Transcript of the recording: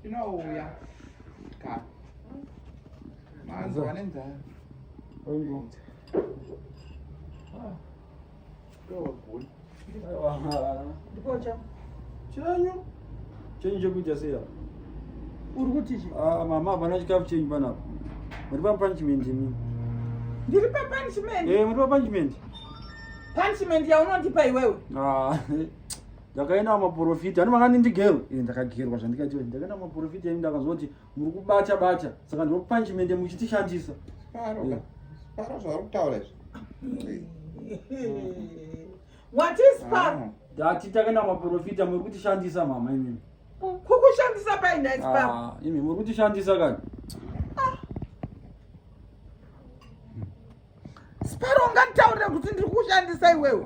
Inouya. Ka. Manzwa nenzara. Oingo. Ah. Ndowa guni. Ndipo cha. Chanyu. Chanyu chekuita sei apa? Uri kuti chi? Ah, mama hapana chikafu chenyu panapa. Muri pa punishment imi. Ndiri pa punishment. Eh, muri pa punishment. Punishment yaunondipa iwewe. Ah. ndakaenda maporofita ani vakani ndigerwe e eh, ndakagerwa zvandikaita ndakaenda maporofita ini ndakanzwa kuti muri kubata bata saka ndiro panchimende muchitishandisa eh. paro zvauri kutaura izvi what is paro ah. ndati takaenda maporofita muri kutishandisa mama imimi kukushandisa painais paro ah, imi muri kutishandisa kani ah. sparo ungataurira kuti ndiri kushandisa iwewe